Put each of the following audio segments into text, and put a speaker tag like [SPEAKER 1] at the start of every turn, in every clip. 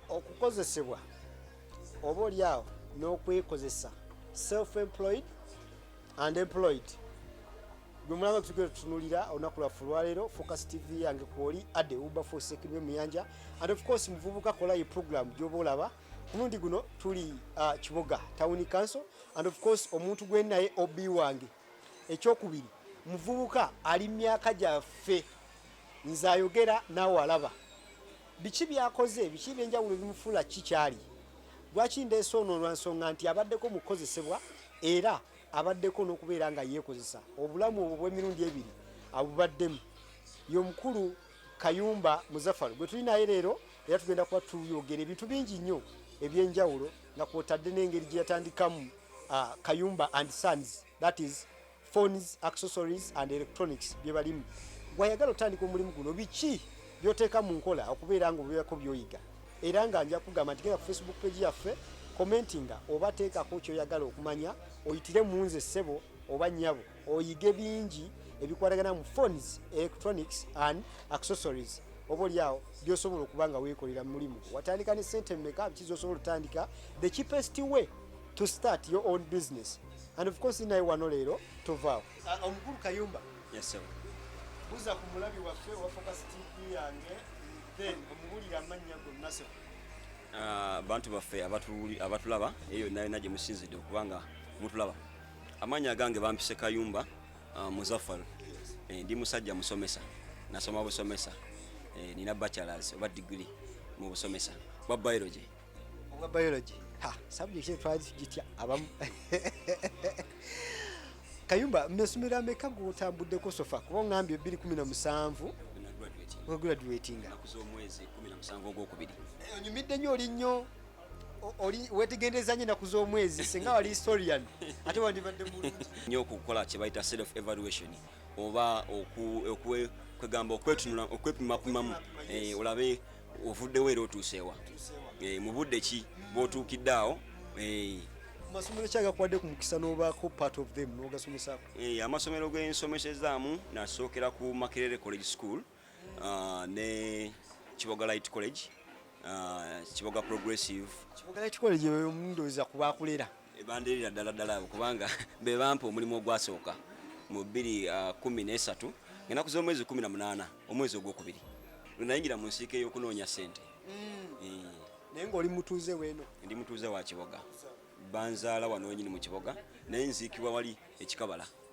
[SPEAKER 1] okukozesebwa oba olyawo n'okwekozesa self employed and employed gwe mulaba tugere tutunulira olunaku lwaffe olwaleero focus tv yange kwoli ade uba fosekirwe muyanja and of course muvubuka kola ye program gyoba olaba omulundi guno tuli uh, kiboga town council and of course omuntu gwenaye ob wange ekyokubiri muvubuka ali myaka gyaffe nze ayogera naawe alaba biki byakoze biki byenjawulo ebimufuula ki kyali lwaki ndeese ono lwa nsonga nti abaddeko mu kukozesebwa era abaddeko n'okubeera nga yeekozesa obulamu obwo bw'emirundi ebiri abubaddemu y'omukulu kayumba muzafalu gwe tuli naye leero era tugenda kuba tuyogera ebintu bingi nnyo ebyenjawulo nga kwotadde n'engeri gye yatandikamu uh, kayumba and sons that is phones accessories and electronics bye balimu wayagala otandika omulimu guno biki byoteeka mu nkola okubeera nga obeerako byoyiga era nga nja kugamba nti genda ku facebook page yaffe commentinga oba teekako kyoyagala okumanya oyitire mu nze ssebo oba nnyabo oyige bingi ebikwatagana mu phones electronics and accessories oba olyawo byosobola okuba nga weekolera mu mulimu watandika ne sente meka biki zosobola otandika the cheapest way to start your own business and of course naye wano leero tovaawo ah, omukulu kayumba
[SPEAKER 2] buza ku
[SPEAKER 1] mulabi waffe wa focus tv yange then omubulire amannya gonna sebo ah,
[SPEAKER 2] bantu baffe abatulaba eyo nayo naye musinzidde okubanga mutulaba Amanya agange bampise Kayumba uh, Muzaffar eh, ndi musajja musomesa nasoma busomesa eh, nina bachelors oba degree mu busomesa bwa biology obwa biology
[SPEAKER 1] ha subject ye twazi gitya abamu Kayumba mmesomero ameka gwotambuddeko sofa kuba ongambye ebbiri kumi na musanvu graduatinga nakuza omwezi
[SPEAKER 2] kumi na musanvu ogwokubiri eh, onyumidde nyo oli
[SPEAKER 1] nnyo oli wetegendereza nyo enaku z'omwezi singa wali historian ate wandibadde mulungi nyo okukola kye
[SPEAKER 2] bayita self evaluation oba kwegamba okwetunula okwepimapimamu eh, olabe ovuddewo era otuuseewa eh, mu budde ki bwotuukidde awo eh,
[SPEAKER 1] amasomero kyagakuwadde ku mukisa n'obaako part of them n'ogasomesako amasomero
[SPEAKER 2] gensomesezaamu nasookera ku makerere college school uh, ne kiboga light college uh, kiboga progressive kiboga light college
[SPEAKER 1] omundoza kubakulera ebandirira ddala
[SPEAKER 2] ddala kubanga bebampa omulimu ogwasooka mu bbiri uh, kumi nesatu ngenaku z'omwezi kumi na munaana omwezi ogwokubiri lwenayingira mu nsiika ey'okunoonya sente mm. eh.
[SPEAKER 1] naye ngaoli mutuuze weeno ndi mutuuze wa kiboga
[SPEAKER 2] banzaala wano wenyini mu kiboga naye nziikibwa wali ekikabala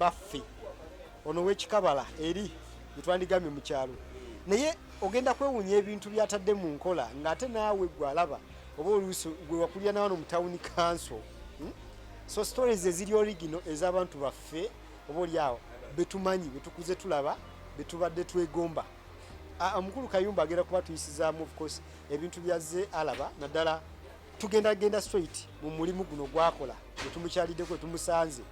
[SPEAKER 1] baffe ono wekikabala eri etwandigambye mu kyalo naye ogenda kwewunya ebintu byatadde mu nkola ng'ate naawe gwe alaba oba oluusi gwe wakulira nawa no mu tawuni kanso hmm? so stories eziri origino ez'abantu baffe oba oli awo betumanyi betukuze tulaba betubadde twegomba omukulu kayumba agenda kuba tuyisizaamu ofcourse ebintu byazze alaba naddala tugenda genda straight mu mulimu guno gwakola etumukyaliddeko etumusanze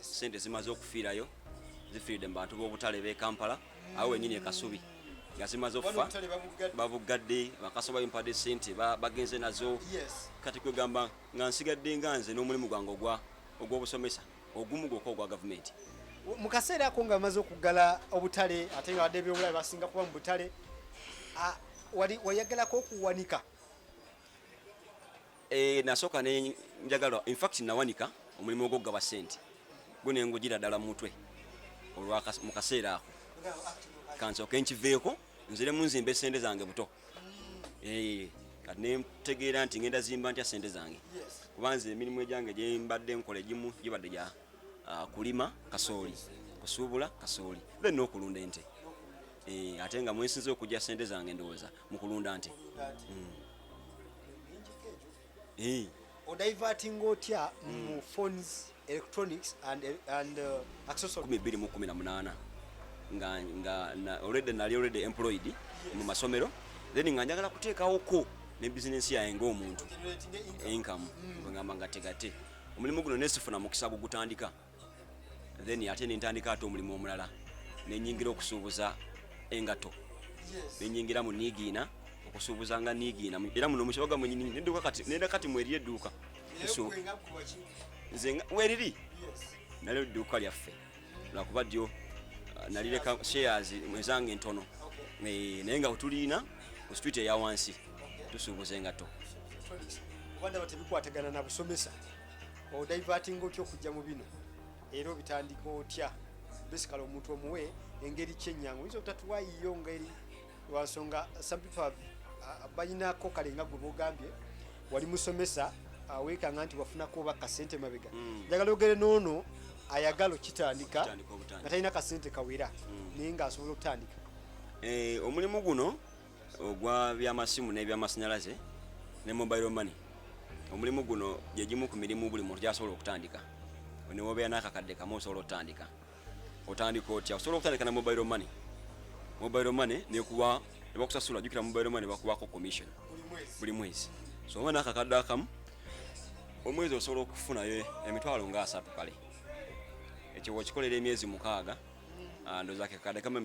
[SPEAKER 2] sente zimaze okufiirayo zifiiridde mu bantu b'obutale b'e kampala awo wenyini ekasubi nga zimaze okufa babuggadde bakasoba bimpadde sente bagenze nazo kati kwegamba nga nsigadde nga nze n'omulimu gwange ogw'obusomesa ogumu gwokka ogwa gavumenti mu kaseera
[SPEAKER 1] ako nga bamaze okuggala obutale ate nga badde ebyobulabe basinga kuba mu butale wayagalako okuwanika
[SPEAKER 2] Eh, nasooka ne njagala infact nawanika omulimu ogwokugaba sente gwe nengugira ddala mu mutwe mu kaseera ako kansooke nkiveeko nziremu nzimbe sente zange buto eh, kati nentegeera nti ngenda zimba ntya sente zange kubanza emirimu egyange gyembadde nkola egimu gibadde gya ah, kulima kasooli kusuubula kasooli then nokulunda ente eh, ate nga mwensinza okujja sente zange ndowooza mu kulunda nte hmm. eh.
[SPEAKER 1] odivertinga otya mu hmm. phones electronics and, and uh, accessories 2018
[SPEAKER 2] nga nga na, already nali already employed yes. mu masomero then nga njagala kuteekawo ko ne business yaye ng'omuntu income mm. ngamba nga tegate omulimu guno nesifuna mukisa gugutandika then ate nentandika ate omulimu omulala nenyingira okusuubuza engato nenyingira mu niigiina okusuubuza nga niigiina era muno mukibaga mwenyini neduka kati nera kati mweri edduuka nze weriri nali edduuka lyaffe lwakuba dyo uh, nalireka shares ezange entono eh, naye nga wetulina ku street eya wansi tusuubuza engato
[SPEAKER 1] odaivatinga otya okujja mu bino era obitandika otya basically omuntu omuwe engeri kyenyangu oyinza obutatuwayiyo ngeri lwansonga some people have uh, balinako kale nga gwe bogambye wali musomesa uh, wekanga nti wafunako oba kasente mabega mm. njagala ogere noono ayagala okitandika nga talina kasente kawera mm. naye nga asobola okutandika eh, omulimu
[SPEAKER 2] guno ogwa byamasimu n'ebyamasanyalaze ne mobile money omulimu guno gye gimu ku mirimu buli muntu gyasobola okutandika newobeera n'akakadde kamu osobola okutandika otandika otya osobola okutandika na mobile money mobile money nekuwa nebakusasula jukira mobile money bakuwako commission buli mwezi so oba n'akakadde akamu omwezi osobola okufunayo emitwalo nga asatu kale ekyo wakikolera emyezi mukaaga ah, ndoza kakadde kamu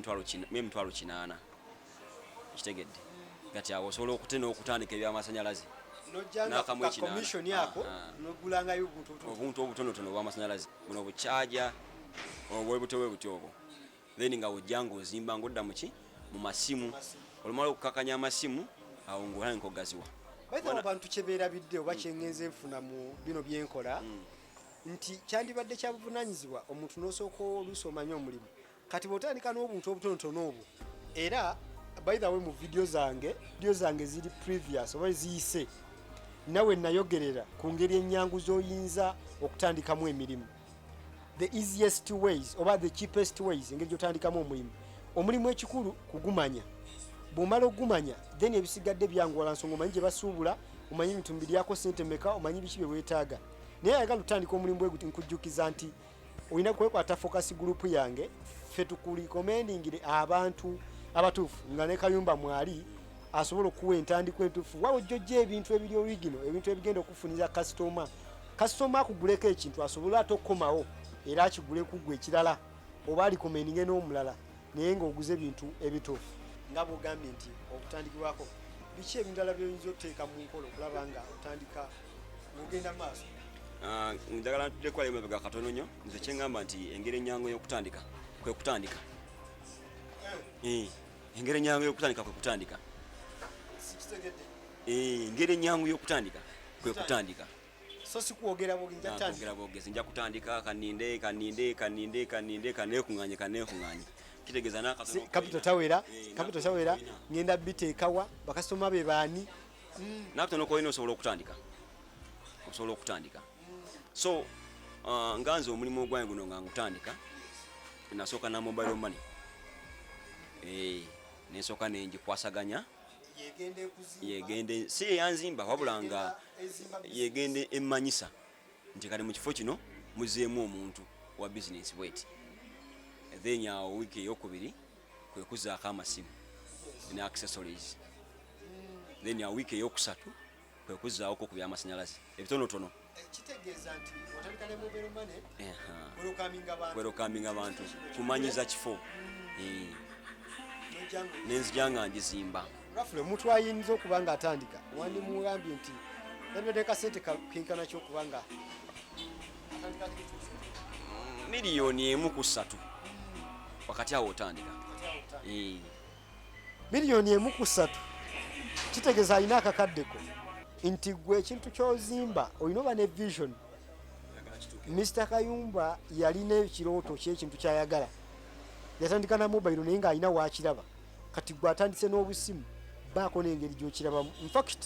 [SPEAKER 2] emitwalo kinaana kitegedde kati awo osobola okute n'okutandika ebyamasanyalaze
[SPEAKER 1] nakamuekinkomishoni ako ah, ah. nogulangayo obuntu obutonotono
[SPEAKER 2] obwamasanyalaze buno bucaja obwebutyo bwebutyo obwo then nga ojja ngaozimba ngaodda muki mu masimu olumala okukakanya amasimu awo ngaolange kogaziwa abantu
[SPEAKER 1] kyeberabidde oba mm. kyengenza enfuna mu bino byenkola mm. nti kyandibadde kyabuvunanyizibwa omuntu nosooka oluusi omanye omulimu kati bwotandika n'obuntu obutonotono obwo era by the way mu video zange video zange ziri previous oba ziyise nawe nayogerera ku ngeri ennyangu z'oyinza okutandikamu emirimu the easiest ways oba the cheapest ways engeri gyotandikamu omulimu omulimu ekikulu kugumanya bwomala okugumanya then ebisigadde byanguwala nsonga omanyi gye basuubula omanyi ebintu mbiryako sente meka omanyi biki bye weetaaga naye ayagala otandika omulimu bwe guti nkujjukiza nti olina kwekwata focus group yange fe tukuli commendingire abantu abatuufu nga ne kayumba mwali asobola okuwa entandikwa entuufu waba ojja ojja ebintu ebiri origino ebintu ebigenda okufuniza kasitoma kasitoma akuguleko ekintu asobole ate okukomawo era akigule kugwa ekirala oba alikomeninge n'omulala naye ng'oguze ebintu ebituufu nga bwogambye nti okutandikibwako biki ebindala byoyinza oteeka mu nkola okulaba nga otandika ogenda maaso ah, njagala
[SPEAKER 2] ntuddeko ali mabega katono nnyo nze kyeŋŋamba nti engeri ennyangu ey'okutandika kwe kutandika eh. Eh, engeri ennyangu y'okutandika kwe kutandika eh, engeri ennyangu y'okutandika kwe kutandika so sikwogera
[SPEAKER 1] bwogera bwogezi nja kutandika
[SPEAKER 2] kaninde kaninde kaninde kaninde kanekunganye kanekunganye kitegeeza nakatono kapito tawera
[SPEAKER 1] kapito tawera ngenda biteekawa bakasitoma be baani mm. nakatono
[SPEAKER 2] koyina osobola okutandika osobola okutandika so uh, nga nze omulimu ogwange guno nga ngutandika nasooka na mobile money eh, nensooka nengikwasaganya yegende si eyanzimba wabula nga yegende emmanyisa nti kati mu kifo kino muzeemu omuntu wa bizinesi bweti then awo wiiki eyokubiri kwe kuzaako amasimu ne accessories then a week eyokusatu kwe kuzaawoko ku by'amasannyalaze ebitonotono
[SPEAKER 1] kwerokaminga
[SPEAKER 2] abantu kumanyiza kifo hmm. nenzija nga njizimba rafule omuntu
[SPEAKER 1] ayinza okuba nga atandika wandimugambye nti nabadde kasente kenkana kyokuba nga
[SPEAKER 2] miliyoni emu ku ssatu wakati awo otandika eh.
[SPEAKER 1] miliyoni emu ku ssatu kitegeeza alina akakaddeko nti gwe ekintu kyozimba olina oba ne vision mr kayumba yalina ekirooto kyekintu kyayagala yatandika na mobile naye ng'alina wakiraba kati gwe atandise n'obusimu baako n'engeri gyokirabamu infact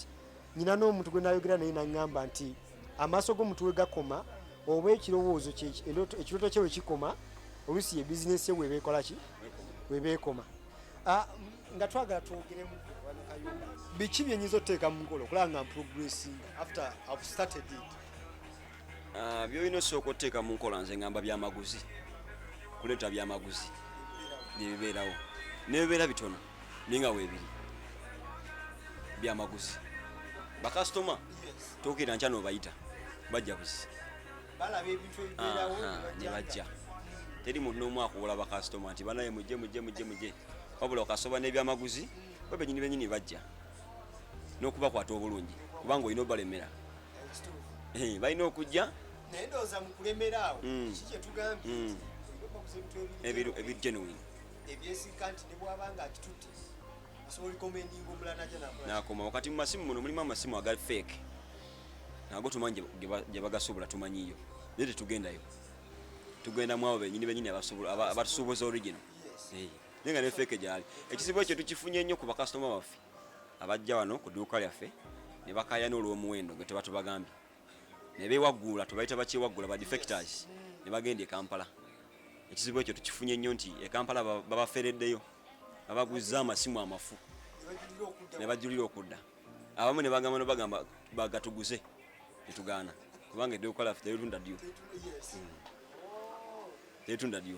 [SPEAKER 1] nyina n'omuntu gwe nayogera naye naŋŋamba nti amaaso g'omuntu we gakoma oba ekirowoozo ekirooto kye we kikoma oluusi ye bizinesi ye webeekola ki webeekoma ah, nga twagala twogeremu biki byenyinza oteeka mu nkola okulaba nga mprogressing after have started it ah,
[SPEAKER 2] byolina osooka oteeka mu nkola nze ngamba byamaguzi kuleeta byamaguzi nebibeerawo nebibeera bitono ninga webiri byamaguzi bakasitoma tokera nkya nobayita bajja buzi
[SPEAKER 1] nebajja
[SPEAKER 2] teri muntu nomu akuwola bakasitoma nti banaye mujje mujje mujje mujje wabula okasoba nebyamaguzi bo benyini benyini bajja nokubakwata obulungi kubanga olina obalemera eh, balina okujja naye ndowooza mu
[SPEAKER 1] kulemera awo mm. kiki kyetugambye mm. ebintu
[SPEAKER 2] ebigenuine ebyesigga nti
[SPEAKER 1] nebwaba nga akitutte asobola likomendinga omulala naja nakoma wakati mu masimu
[SPEAKER 2] muno mulimu amasimu agali fake nago tumanyi gyebagasobola tumanyiyo naye tetugendayo tugenda mu abo benyini benyini abatusuubuza original naye nga ne fake gyali ekizibu ekyo tukifunye nnyo ku bakasitoma baffe abajja wano ku duuka lyaffe ne bakayana olw'omuwendo gwe tebatubagambye ne beewaggula tubayita bakyewaggula ba defectors ne bagenda e kampala ekizibu ekyo tukifunye nnyo nti e kampala babafereddeyo babaguzza amasimu amafu ne bajulira okudda abamu ne bagamba nobagamba bagatuguze netugaana kubanga edde okukola ffe teritunda dyo hmm. teritunda dyo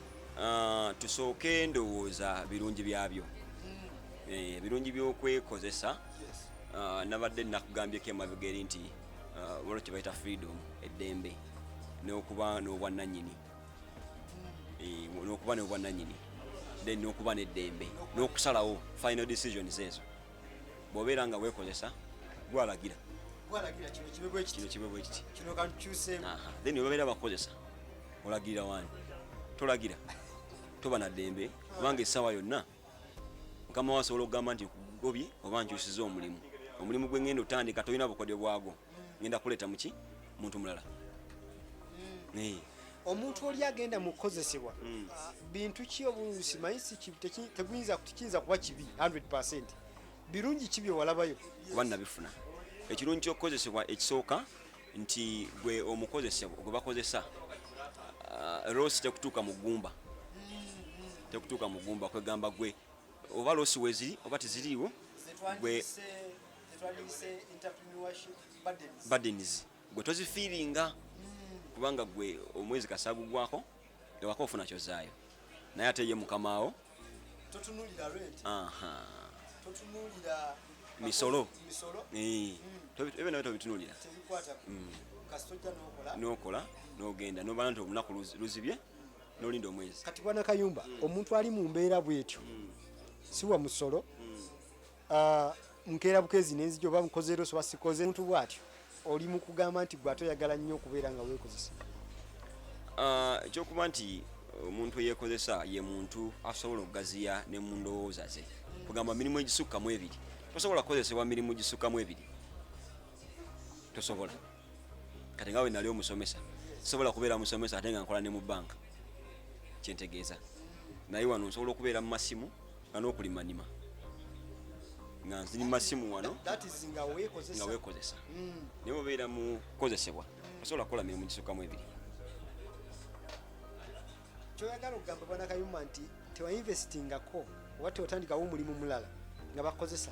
[SPEAKER 2] Ah, tusooke ndowooza birungi byabyo mm. eh, ebirungi by'okwekozesa ah, nabadde nakugambyeko emabega eri nti ah, waliwo kye bayita freedom eddembe n'okuba n'obwannanyini mm. eh, n'okuba n'obwannanyini then n'okuba n'eddembe n'okusalawo final decisions ezo bw'obeera nga weekozesa gwalagira kino kibe bwe kiti then webabeera bakukozesa olagirira wani tolagira toba na ddembe kubanga essaawa yonna mukama wasobola okugamba nti gobye oba nkyusiza omulimu omulimu gwengenda otandika tolina bukodyo bwago ngenda kuleeta muki muntu mulala mm.
[SPEAKER 1] omuntu oli agenda mu kukozesebwa mm. bintu ki obulusi manyi tekiyinza kuba kibi 100 birungi ki byewalabayo kuba nabifuna
[SPEAKER 2] ekirungi kyokukozesebwa ekisooka nti gwe omukozesebwa gwe bakozesa uh, rosi tekutuuka mu ggumba mm-hmm. tekutuuka mu ggumba kwegamba gwe oba losi weziri oba teziriiwo gwe badenizi gwe tozifiiringa hmm. kubanga gwe omwezi kasagugwako ewaka ofuna kyozaayo naye ate ye mukamaawo
[SPEAKER 1] misolo
[SPEAKER 2] eh. hmm. ebyo nayo tobitunulira hmm. nokola nogenda nobana nti olunaku luzibye nolinda omwezi kati bwana kayumba
[SPEAKER 1] omuntu ali mu mbeera bwetyo siwa musolo Ah, nkeera bukezi nenzija oba nkoze leero soba sikoze muntu bwatyo oli mu kugamba nti gwe ate oyagala nnyo okubeera nga weekozesa ah, ekyokuba
[SPEAKER 2] nti eh, omuntu eyeekozesa ye muntu asobola okugaziya ne mu ndowooza ze kugamba mirimu egisukkamu ebiri tosobola kukozesebwa mirimu gisukkamu ebiri tosobola kati nga wenali omusomesa sobola kubeera musomesa ate nga nkola ne mu banka kyentegeeza naye wano nsobola okubeera mu masimu nga n'okulimanima nga nziri masimu wano
[SPEAKER 1] nga weekozesa
[SPEAKER 2] mm. naye obeera mu kukozesebwa osobola kukola mirimu gisukamu ebiri
[SPEAKER 1] kyoyagala okugamba bwana kayuma nti tewainvestingako oba teotandikawo omulimu mulala nga bakozesa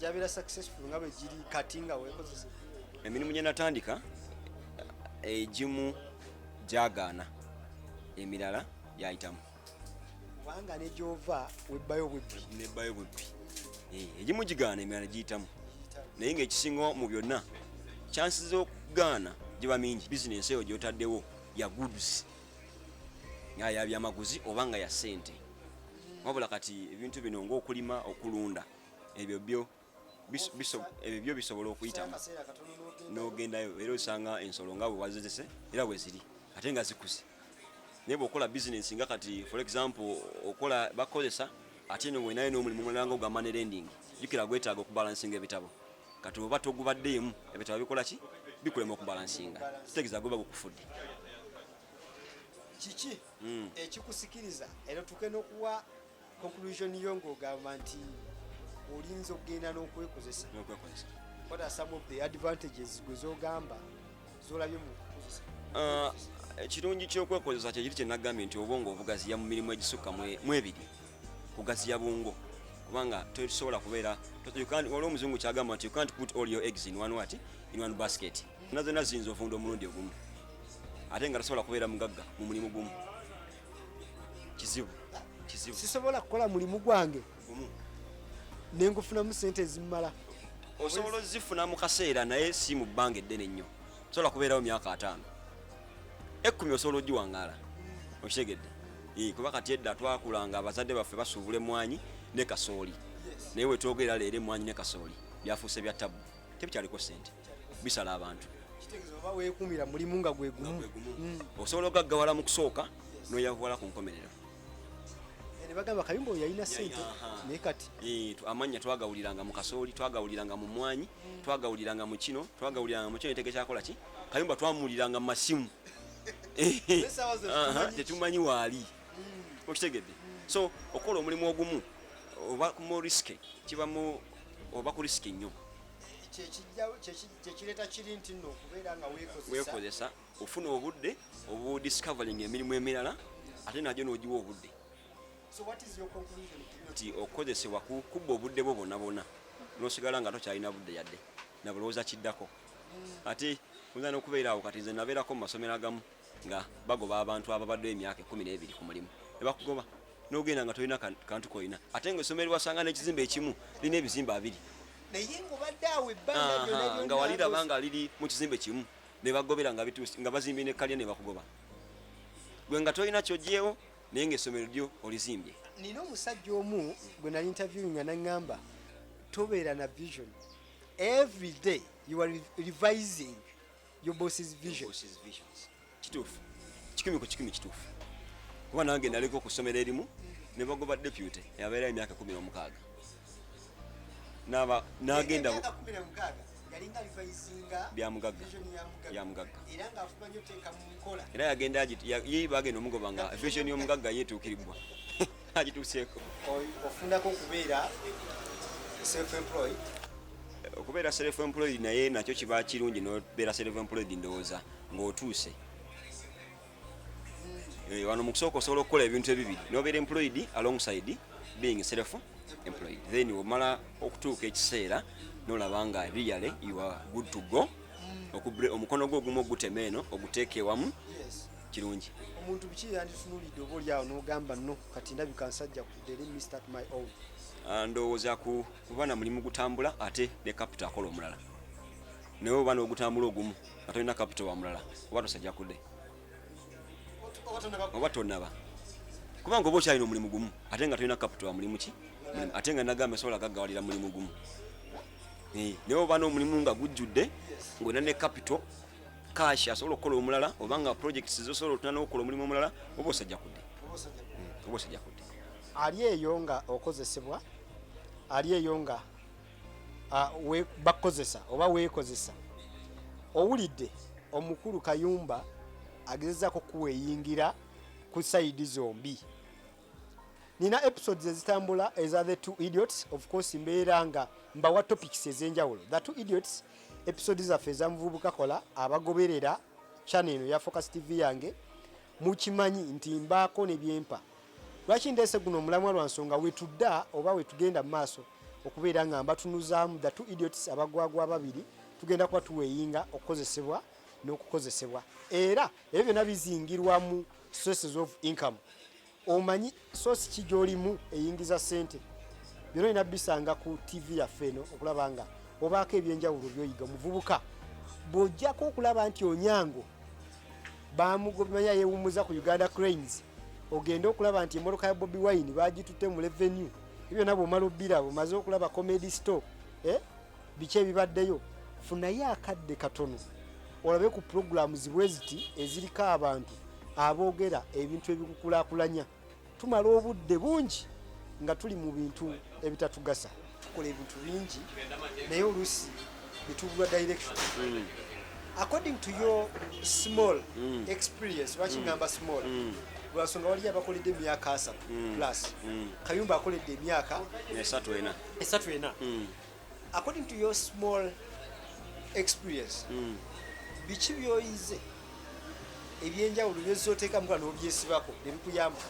[SPEAKER 1] gyabeera successful nga bwe giri kati nga weekozesa emirimu gye
[SPEAKER 2] natandika egimu gyagaana emirala gyayitamu kubanga
[SPEAKER 1] negyova webbayo bubbi nebbayo bubbi
[SPEAKER 2] eh, egimu gigaana emirala giyitamu naye ngaekisinga mu byonna kyansi zokugaana giba mingi bizinensi eyo gyotaddewo ya goods nga yabyamaguzi oba nga ya sente wabula kati ebintu bino ngaokulima okulunda ebyo byo ebyo byo bisobola okuyitamu n'ogendayo era osanga ensolo nga bwe wazizese era bwe ziri ate nga zikuze naye bwokola bizinesi nga kati for example okola bakozesa ate no wenayo n'omulimu mulala nga ogamba ne lending jukira gwetaaga okubalansinga ebitabo kati oba togubaddeemu ebitabo bikola ki bikulema okubalansinga kitegeza goba gukufudde
[SPEAKER 1] kiki hmm. ekikusikiriza era tuke n'okuwa conclusion yo ng'ogamba nti olinza okugenda n'okwekozesa what are some of the advantages gwe zogamba zolabye mu kukozesa uh,
[SPEAKER 2] ekirungi kyokwekozesa kyekiri kyenagambye nti obwongo obugaziya mu mirimu egisukka mu ebiri kugaziya bwongo kubanga tosobola kubeera waliwo omuzungu kyagamba nti you can't put all your eggs in one what in one basket nazona ziyinza ofunda omulundi ogumu ate nga tasobola kubeera mugagga mu mulimu gumu kizibu kizibu
[SPEAKER 1] sisobola kukola mulimu gwange nengufunamu sente ezimumala osobola
[SPEAKER 2] ozifuna mu kaseera naye si mu bbanga eddene nnyo sobola kubeerawo myaka ataano ekkumi osobola ogiwangaala okitegedde kuba kati edda twakula nga abazadde baffe basuubula emwanyi ne kasooli naye wetwogerera leero emwanyi ne kasooli byafuuse bya tabu tebikyaliko sente bisala abantu wekumira
[SPEAKER 1] mulimu nga gwegumu mm. osobola
[SPEAKER 2] ogaggawala mu kusooka noyavuwala ku nkomerero
[SPEAKER 1] nebagamba kayumba oyo yalina sente naye kati eh, amannya
[SPEAKER 2] twagawuliranga mu kasooli twagawuliranga mu mwanyi mm. twagawuliranga mu kino twagawuliranga mu kino netege kyakola ki kayumba twamuwuliranga mu masimu tetumanyi waali mm. okitegedde so okukola omulimu ogumu oba mu risike kibamu oba ku risiki nnyo
[SPEAKER 1] kyekireeta kiri nti no okubeera nga weekozesa
[SPEAKER 2] ofuna obudde obudiscovering emirimu emirala ate najo nogiwa obudde nti okukozesebwa kubba obudde bwo bona bona nosigala nga tokyalina budde yadde nabulowooza kiddako hmm. ati oyinza nokubeeraawo kati nze nabeerako mu masomero agamu nga bagoba abantu ababaddewo emyaka ekumi n'ebiri ku mulimu nebakugoba nogenda nga tolina kantu kolina ate nga esomero wasanga nekizimba ekimu lina ebizimba abiri naye ngobadde awo ebbanga nga waliraba nga liri mu kizimbe kimu nebagobera nga bituusi nga bazimbye nekkalya nebakugoba gwe nga tolina kyogyewo naye nga esomero lyo olizimbye nina omusajja
[SPEAKER 1] omu gwe nali interview nga naŋŋamba tobeera na vision every day you are revising your boss's vision, your boss's visions. kituufu
[SPEAKER 2] kikumi ku kikumi kituufu kuba nange naliko ku ssomero erimu ne bagoba deputy yabeerayo emyaka kumi n'omukaaga nagenda
[SPEAKER 1] byamugagga
[SPEAKER 2] yamugagga
[SPEAKER 1] era yagenda
[SPEAKER 2] ye bagenda omugoba nga vision y'omugagga yetuukiribwa agituuseeko ofundako
[SPEAKER 1] okubeera self employed
[SPEAKER 2] okubeera self employed naye nakyo kiba kirungi nobeera self employed ndowooza ng'otuuse eh, wano mu kusooka osobola okukola ebintu ebibiri nobeera employed alongside being self employed then omala okutuuka ekiseera nolaba nga really you are good to go omukono gwo ogumu ogutema eno oguteeka ewamu kirungi omuntu biki
[SPEAKER 1] yanditunulidde oba olyawo nogamba no kati ndabika nsajja kudere mr my own ah, ndowooza
[SPEAKER 2] kuba na mulimu gutambula ate ne kapita akola omulala naye oba nogutambula ogumu nga tolina kapito wa mulala oba tosajja kude oba tonaba kubanga oba okyalina omulimu gumu ate nga tolina kapito wa mulimu ki ate nga nagamba sobola gaggawalira mulimu gumu eh, naye oba n'omulimu nga gujjudde ng'olina ne kapito kashi asobola okukola omulala oba nga projects zosobola otuna n'okukola omulimu omulala oba osajja kude oba osajja kude
[SPEAKER 1] hmm, ali eyo nga okozesebwa ali eyo nga ah, bakukozesa oba weekozesa owulidde omukulu kayumba agezezako kuweyingira ku saidi zombi nina episodes ezitambula eza the two idiots of course mbeera nga mbawa topics ezenjawulo the two idiots episode zaffe ezamuvubuka kola abagoberera channel eno ya focus tv yange mukimanyi nti mbaako nebyempa lwaki ndeese guno omulamwa lwa nsonga wetudda oba wetugenda mu maaso okubeera nga mbatunuzaamu the two idiots abagwagwa ababiri tugenda kuba tuweeyinga okukozesebwa n'okukozesebwa era ebyo byonna bizingirwa mu sources of income omanyi source ki gy'olimu eyingiza ssente byona olina bisanga ku tv yaffe eno okulaba nga obaako ebyenjawulo byoyiga omuvubuka bw'ojjako okulaba nti onyango bamugobimanya yewummuza ku uganda cranes ogende okulaba nti emmotoka ya bobi wine bagitutte mu revenue ebyo byonna bwomala obbiraba omaze okulaba comedy store eh? biki ebibaddeyo funayo akadde katono olabe ku pulogulaamu zibwe ziti eziriko abantu aboogera ebintu ebikukulakulanya tumala obudde bungi nga tuli mu bintu ebitatugasa tukola ebintu bingi naye oluusi bitubulwa direction mm. according to your small mm. experience lwaki mm. ngamba small mm. lwansonga waliyo abakoledde emyaka asatu mm. plus mm. kayumba akoledde emyaka esatu ena esatu ena mm. According to your small experience, mm. biki byoyize ebyenjawulo byozza oteekamu kuba n'obyesibako ne bikuyamba?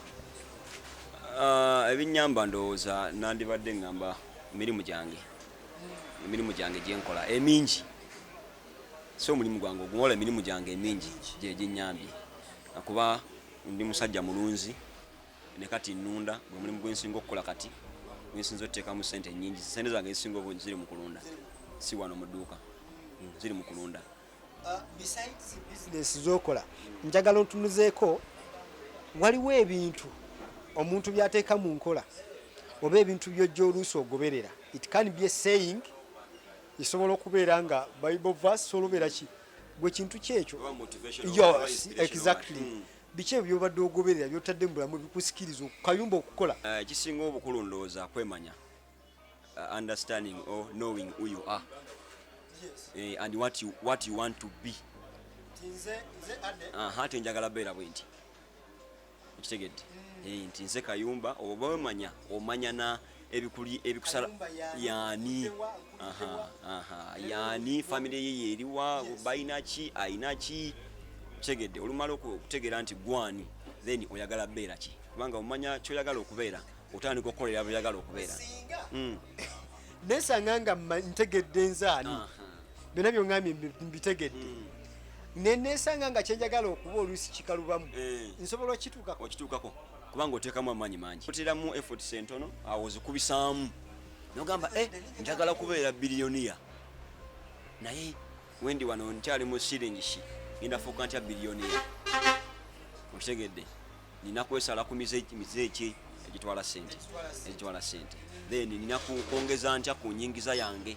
[SPEAKER 1] Uh,
[SPEAKER 2] ebinnyamba ndowooza nandibadde ngamba mirimu gyange emirimu gyange gyenkola emingi si omulimu gwange oguwola emirimu gyange emingi gyeginyambye akuba ndi musajja mulunzi ne kati nnunda gwe mulimu gwe nsinga okukola kati gwe nsinza oteekamu ssente nnyingi ssente zange ezisinga obungi ziri mu kulunda si wano mu dduuka hmm, ziri mu kulunda uh, besides
[SPEAKER 1] bizinesi zokola njagala otunuzeeko waliwo ebintu omuntu byateeka mu nkola oba ebintu byojja oluusi ogoberera it can be a saying esobola okubeera nga bible verse olubeera ki gwe kintu kyekyo exactly hmm. biki ebyo byobadde ogoberera byotadde mu bulamu ebikusikiriza okukayumba okukola eh, ekisinga uh, obukulu
[SPEAKER 2] ndowooza kwemanya uh, understanding or knowing who you are yes. uh, and what you, what you want to be ate njagala beera bwe nti okitegedde mm. eh, nti nze kayumba oba wemanya omanya ebikuli ebikusala yani aha aha yani family ye yeriwa bayina ki ayina ki tegede olumala okutegera nti gwani then oyagala beera ki kubanga omanya kyoyagala okubeera otandika okukolera byoyagala okubeera hmm. nesanga
[SPEAKER 1] nga ntegedde nzaani byonna byongambye mbitegedde hmm. nenesanga nga kyenjagala okuba oluusi kikalubamu eh. nsobola okituukako
[SPEAKER 2] kubanga oteekamu amaanyi mangi oteramu efforts entono awo ozikubisaamu nogamba e eh, njagala kubeera biliyoniya naye wendi wano nkyali mu siringishi ngenda fuuka ntya biliyoniya okitegedde nina kwesala ku mize eki egitwala sente egitwala sente then nina kwongeza ntya ku nyingiza yange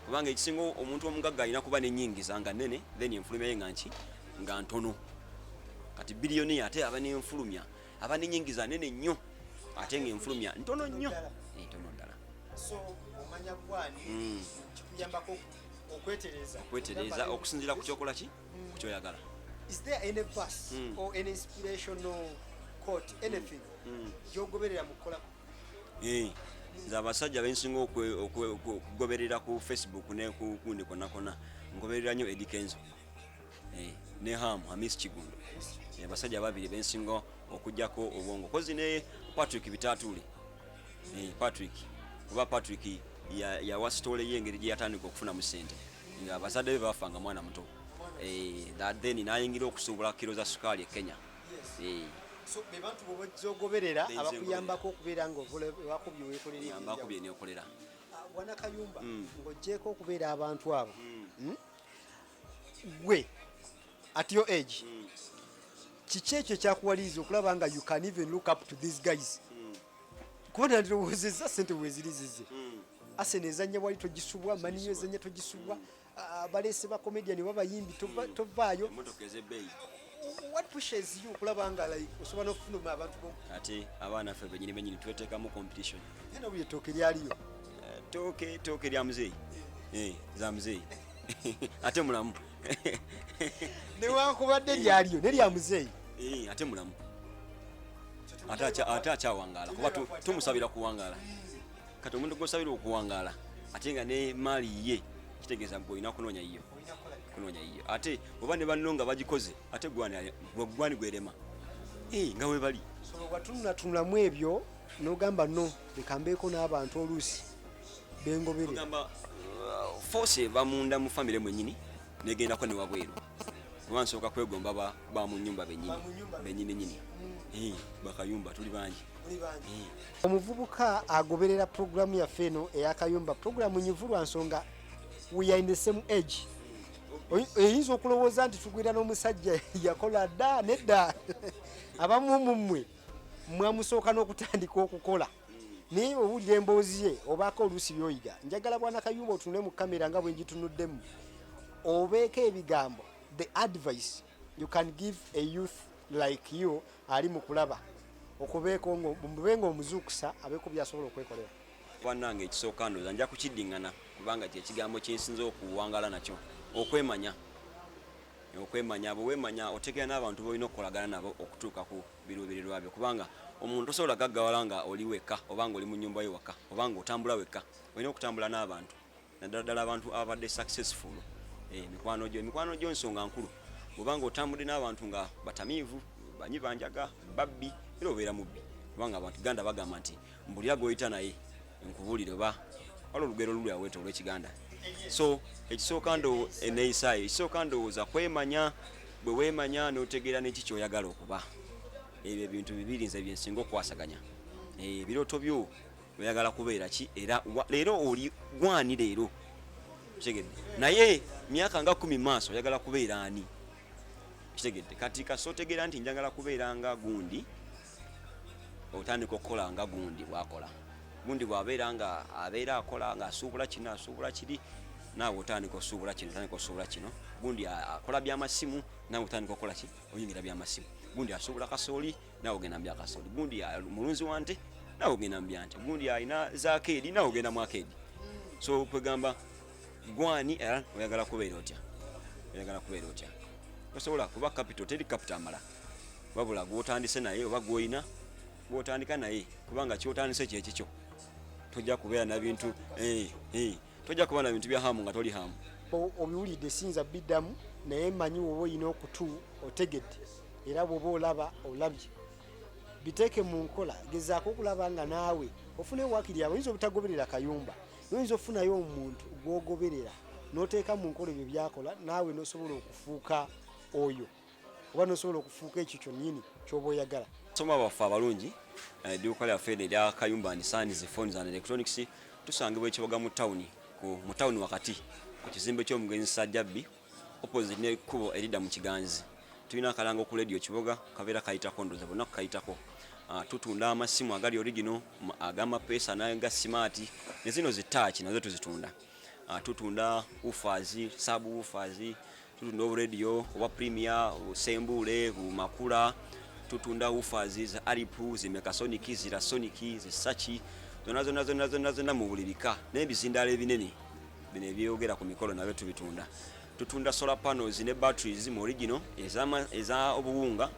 [SPEAKER 2] kubanga ekisinga omuntu omugagga alina kuba nenyingiza nga nene then enfulumya ye nga nki nga ntono kati biliyoni ate aba nenfulumya aba nenyingiza nene nnyo ate nga enfulumya ntono nnyo ntono ddala
[SPEAKER 1] hmm.
[SPEAKER 2] okwetereza okusinzira ku kyokola ki hmm. ku kyoyagala
[SPEAKER 1] hmm. gyogoberera mukukola
[SPEAKER 2] nze abasajja bensinga okugoberera ku facebook nekukundi konakona ngoberera nyo edikenzo eh, ne ham hamis kigundo eh, basajja babiri bensinga okujjako obwongo kozi ne patrick bitatuli eh, patrick kuba patrick yawa sitole ye engeri gyeyatandika okufuna mu sente nga abazadde be bafanga mwana muto then nayingira okusuubula kiro za sukaali e kenya
[SPEAKER 1] so be bantu bo bajja ogoberera abakuyambako okubeera nga wakubye wekolereyambakubye nekolera
[SPEAKER 2] ah, wana
[SPEAKER 1] kayumba mm. ng'ogyeko okubeera abantu abo mm. hmm? gwe at your age mm. kiki ekyo ekyakuwaliriza okulaba nga you can even look up to these guys kuba nandirowoozezza sente wezirizize asene ezanya wali togisubwa maniyo ezanya togisubwa abalese ba comedian oba bayimbi tovaayo what pushes you kulaba nga like osobola n'okufunuma abantu bomu ate abaana ffe
[SPEAKER 2] benyini benyini tweteekamu competition eno buli ettooke
[SPEAKER 1] lyaliyo eh, tooke
[SPEAKER 2] ettooke lya muzeeyi eh, za muzeeyi ate mulamu newankubadde
[SPEAKER 1] lyaliyo ne lya muzeeyi eh, ate mulamu
[SPEAKER 2] ate akyawangala kuba tumusabira kuwangala kati omuntu gwosabira okuwangaala ate nga ne maali ye kitegeeza gwe olina kunoonya yiyo kunoonya yiyo ate oba ne banno nga bagikoze ate gwani gwerema eh, nga webali watunulatunulamu
[SPEAKER 1] ebyo nogamba no lekambeeko n'abantu oluusi bengoberera uh,
[SPEAKER 2] force eva munda mu famire mwenyini negendako newabweru oba nsooka kwegomba ba mu nyumba benyini nyini hmm. bakayumba tuli bangi hmm.
[SPEAKER 1] omuvubuka agoberera puroguramu yaffe eno eyakayumba puroguramu nyivu lwa nsonga we are in the same age eyinza okulowooza nti tugwira n'omusajja yakola dda nedda abamu mumwe mwamusooka n'okutandika okukola naye owulira emboozi ye obaako oluusi byoyiga njagala bwana kayumba otunule mu kamera nga bwe njitunuddemu obeeko ebigambo the advice you can give a youth like you ali mu kulaba okubeeko mube nga omuzuukusa abeeko byasobola okwekolera banange ekisooka
[SPEAKER 2] ndoza nja kukiddingana kubanga kyekigambo kyensinza okuwangala nakyo okwemanya okwemanya bwewemanya otegera n'abantu bolina okukolagana nabo okutuuka ku biruubirirwa byo kubanga omuntu tosobola gaggawala nga oli wekka oba nga oli mu nyumba yo wakka oba nga otambula wekka olina okutambula n'abantu naddala ddala abantu ababadde successful eh, emikwano gyo emikwano gyo nsonga nkulu oba nga otambudde n'abantu nga batamiivu banyi banjaga babbi era obeera mubbi kubanga abantu ganda bagamba nti mbuli agoyita naye nkubulire oba wala olugero luli aweta olwekiganda so ekisooka ndo eneyisaayo ekisooka ndowooza kwemanya bwe wemanya notegeera neki kyoyagala okuba ebyo ebintu bibiri nze byensinga okukwasaganya eh, ebirooto byo oyagala kubeera ki era leero oli gwani leero kitegedde naye myaka nga kumi maaso oyagala kubeera ani kitegedde kati kasootegeera nti njagala kubeera nga gundi otandika okukola nga gundi bwakola gundi bwabeera nga abeera akola nga asuubula kino asuubula kiri naawe otandika osuubula kino otandika osuubula kino gundi akola byamasimu naawe otandika okukola ki oyingira byamasimu gundi asuubula kasooli naawe ogenda mu byakasooli gundi mulunzi wa nte naawe ogenda mu byante gundi alina zakeedi naawe ogenda mu akeedi so kwegamba gwani era oyagala kubeera otya oyagala kubeera otya tosobola kuba capital teri capital amala wabula gwotandise naye oba gwolina gwotandika naye kubanga kyotandise kyekikyo tojja kubeera nabintu eh, eh, tojja kubeera nabintu bya hamu nga toli hamu obiwulidde siyinza
[SPEAKER 1] biddamu naye manyi woba olina okutu otegedde era bwoba olaba olabye biteeke mu nkola gezaako okulaba nga naawe ofuna ewakiri abo oyinza obutagoberera kayumba noyinza ofunayo omuntu gwogoberera noteeka mu nkola ebyo byakola naawe nosobola okufuuka oyo oba nosobola okufuuka ekyo kyonyini kyoba oyagala soma baffe abalungi
[SPEAKER 2] edduuka lyaffe eno erya kayumba and sons phones and electronics tusangibwa ekiboga mu tawuni mu tawuni wakati ku kizimbe ky'omugenzi sajjabbi opposite n'ekkubo eridda mu kiganzi tulina akalanga oku lediyo kiboga kabeera kayitako ndoza bonna kukayitako ah, tutunda amasimu agali origino agamapeesa naga simaati ne zino zitaaki nazo tuzitunda ah, tutunda ufazi sabu ufazi Tutunda oburedio obwa Premier, Sembule, Bumakula, tutunda ufazi za Aripu, zimekasoniki, zirasoniki, zisachi zonna zonna zonna zonna zonna mu buli bika n'ebizindaalo ebinene bino ebyeyogera ku mikolo nabyo tubitunda tutunda solar panels ne batteries mu original eza obuwunga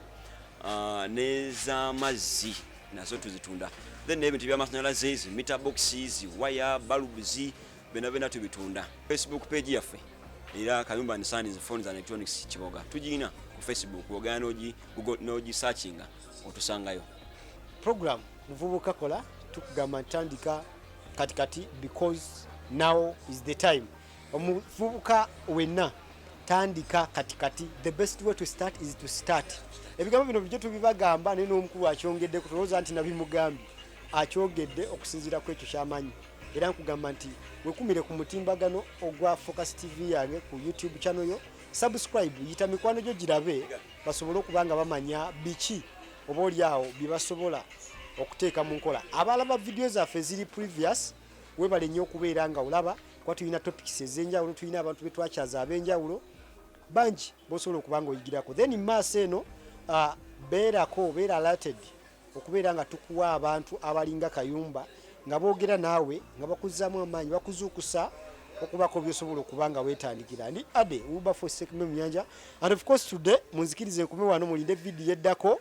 [SPEAKER 2] ah, n'ezamazzi nazo tuzitunda then n'ebintu by'amasannyalaze zi meter boxes waya balubs bena bena tubitunda facebook page yaffe era kayumba and sons phones and electronics kiboga tugirina ku facebook ogana nogi google nogi searchinga otusangayo program
[SPEAKER 1] muvubuka kola tukugamba ntandika kati kati because now is the time omuvubuka wenna tandika kati kati the best way to start is to start ebigambo bino bijjo tubibagamba naye n'omukulu akyongedde kutulowooza nti nabimugambye akyogedde okusinziira ku ekyo kyamanyi era nkugamba nti wekumire ku mutimbagano ogwa focus tv yange ku youtube channel yo subscribe yita mikwano gyo girabe basobole okuba nga bamanya biki oba oli awo bye basobola okuteeka mu nkola abalaba vidiyo zaffe eziri previous webale nnyo okubeera nga olaba kuba tulina topics ez'enjawulo tulina abantu be twakyaza ab'enjawulo bangi bosobola okuba nga oyigirako then maaso eno uh, beerako beera alerted okubeera nga tukuwa abantu abalinga kayumba nga boogera naawe nga bakuzzaamu amaanyi bakuzuukusa okubaako byosobola okuba nga weetandikira ndi ade uba for sekme muyanja and of course today munzikiriza enkume wano mulinde vidiyo eddako